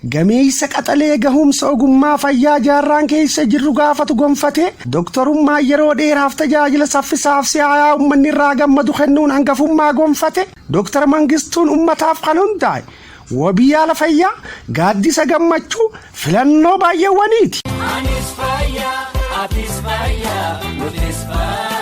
Gameessa qaxalee gahumsa ogummaa fayyaa jaarraan keessa jirru gaafatu gonfatee doktorummaa yeroo dheeraaf tajaajila saffisaaf si'aayaa ummanni irraa gammadu kennuun hangafummaa gonfate Doktar Mangistuun ummataaf kan hundaa'e wabii yaala fayyaa gaaddisa gammachuu filannoo baay'eewwaniiti. Anis faya, atis faya, nutis faya.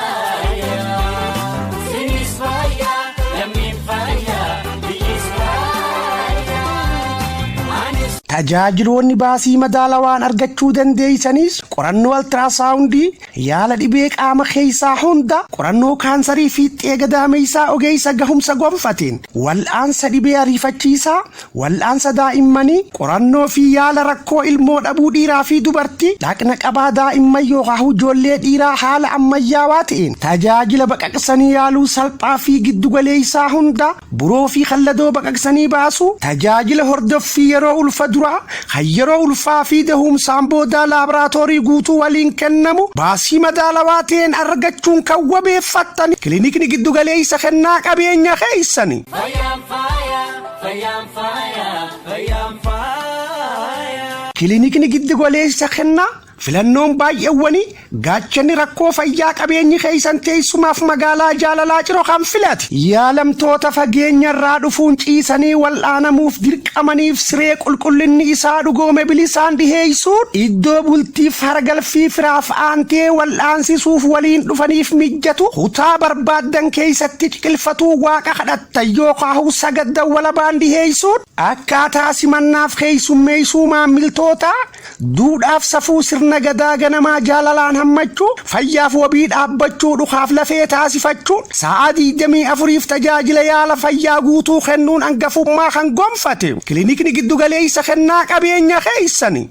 Tajaajiloonni baasii madaalawaan argachuu dandeessanis qorannoo altiraasaawundii, yaala dhibee qaama keessaa hunda, qorannoo kaansarii fiixxee gadaameessaa ogeessa gahumsa gonfateen, wal'aansa dhibee ariifachiisaa, wal'aansa daa'immanii, Qorannoo fi yaala rakkoo ilmoo dhabuu dhiiraa fi dubartii dhaqna qabaa daa'imman yookaahuu ijoollee dhiiraa haala ammayyaawaa ta'een tajaajila baqaqsanii yaaluu salphaa fi giddu galeessaa hundaa, buroo fi kalladoo baqaqsanii baasuu, tajaajila hordoffii yeroo ulfa duraa, kan yeroo ulfaa fi dahuumsaan boodaa laabraatoorii guutuu waliin kennamu baasii madaalawaa ta'een argachuun kan wabeeffattan kilinikni giddu galeessa kennaa qabeenya keessani. Fayyaan faaya, fayyaan faaya. Fayyaan faaya. Kilinikni Giddigoleessa Kennaa Filannoon Baay'eewwanii Gaachanni Rakkoo Fayyaa Qabeenyi Keessan Teessumaaf Magaalaa Jaalalaa Ciro Kan Filate. Yaalamtoota fageenya irraa dhufuun ciisanii wal'aanamuuf dirqamaniif siree qulqullinni isaa dhugoome bilisaan dhiheessuun iddoo bultiif haragalfii firaaf aantee wal'aansisuuf waliin dhufaniif mijjatu kutaa barbaaddan keessatti ciqilfatuu waaqa kadhattu. Tan yookaahu sagat dawwalabaan dhiheessuun akkaataa simannaaf keessummeessuu maammiltootaa, duudhaaf safuu sirna Gadaa ganamaa jaalalaan hammachuu, fayyaaf wabii dhaabbachuu dhukaaf lafee taasifachuun saa'aa 24f tajaajila yaala fayyaa guutuu kennuun angafummaa kan gonfate Kilinikni Giddugaleessa Kennaa Qabeenya keessani.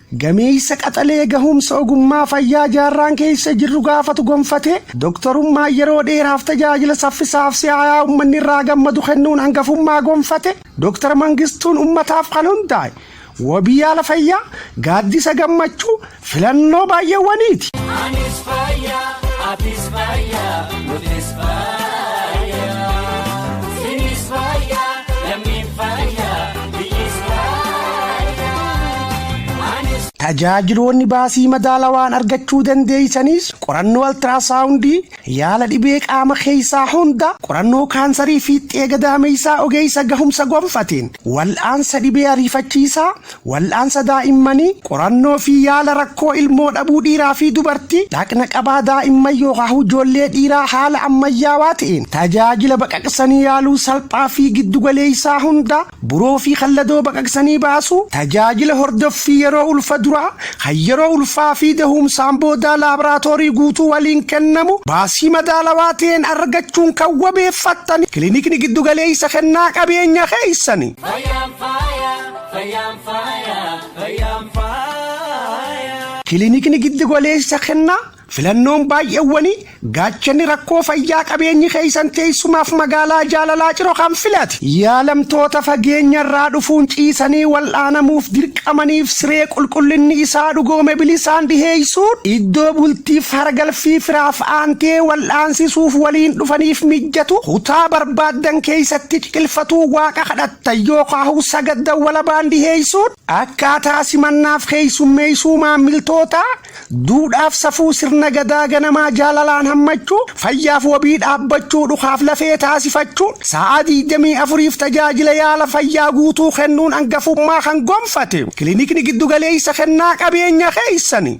Gameessa qaxalee gahumsa ogummaa fayyaa jaarraan keessa jirru gaafatu gonfatee, doktorummaan yeroo dheeraaf tajaajila saffisaaf si'aayaa ummanni irraa gammadu kennuun hangafummaa gonfate Dr. Mangistuun ummataaf kan hundaa'e wabii yaala fayyaa, gaaddisa gammachuu, filannoo baay'eewwaniiti. Anis fayya, atis fayya, nutis fayya. Tajaajiloonni baasii madaalawaan argachuu dandeessanis qorannoo altiraasaawundii, yaala dhibee qaama keessaa hunda, qorannoo kaansarii fiixxee gadaameessaa ogeessa gahumsa gonfateen, wal'aansa dhibee ariifachiisaa, wal'aansa daa'immanii, Qorannoo fi yaala rakkoo ilmoo dhabuu dhiiraa fi dubartii dhaqna qabaa daa'imman yookaahuu ijoollee dhiiraa haala ammayyaawaa ta'een tajaajila baqaqsanii yaaluu salphaa fi giddugaleessaa hundaa, buroo fi kalladoo baqaqsanii baasuu, tajaajila hordoffii yeroo ulfa duraa, kan yeroo ulfaa fi dahuumsaan boodaa laabraatoorii guutuu waliin kennamu baasii madaalawaa ta'een argachuun kan wabeeffattan kilinikni giddugaleessa kennaa qabeenya keessani. Fayyaan faaya, fayyaan faaya. Fayyaan faaya. Kilinikni Giddigoleessa Kennaa Filannoon Baay'eewwanii Gaachanni Rakkoo Fayyaa Qabeenyi Keessan Teessumaaf Magaalaa Jaalalaa Ciro Kan Filate. Yaalamtoota fageenya irraa dhufuun ciisanii wal'aanamuuf dirqamaniif siree qulqullinni isaa dhugoome bilisaan dhiheessuun, iddoo bultiif haragalfii firaaf aantee wal'aansisuuf waliin dhufaniif mijjatu kutaa barbaaddan keessatti ciqilfatuu waaqa kadhattu. Tan yookaahu sagat dawwalabaan dhiheessuun akkaataa simannaaf keessummeessuu maammiltootaa, duudhaaf safuu sirna gadaa ganamaa jaalalaan hammachuu, fayyaaf wabii dhaabbachuu dhukaaf lafee taasifachuun saa'aa 24f tajaajila yaala fayyaa guutuu kennuun angafummaa kan gonfate Kilinikni Giddugaleessa Kennaa Qabeenya keessani.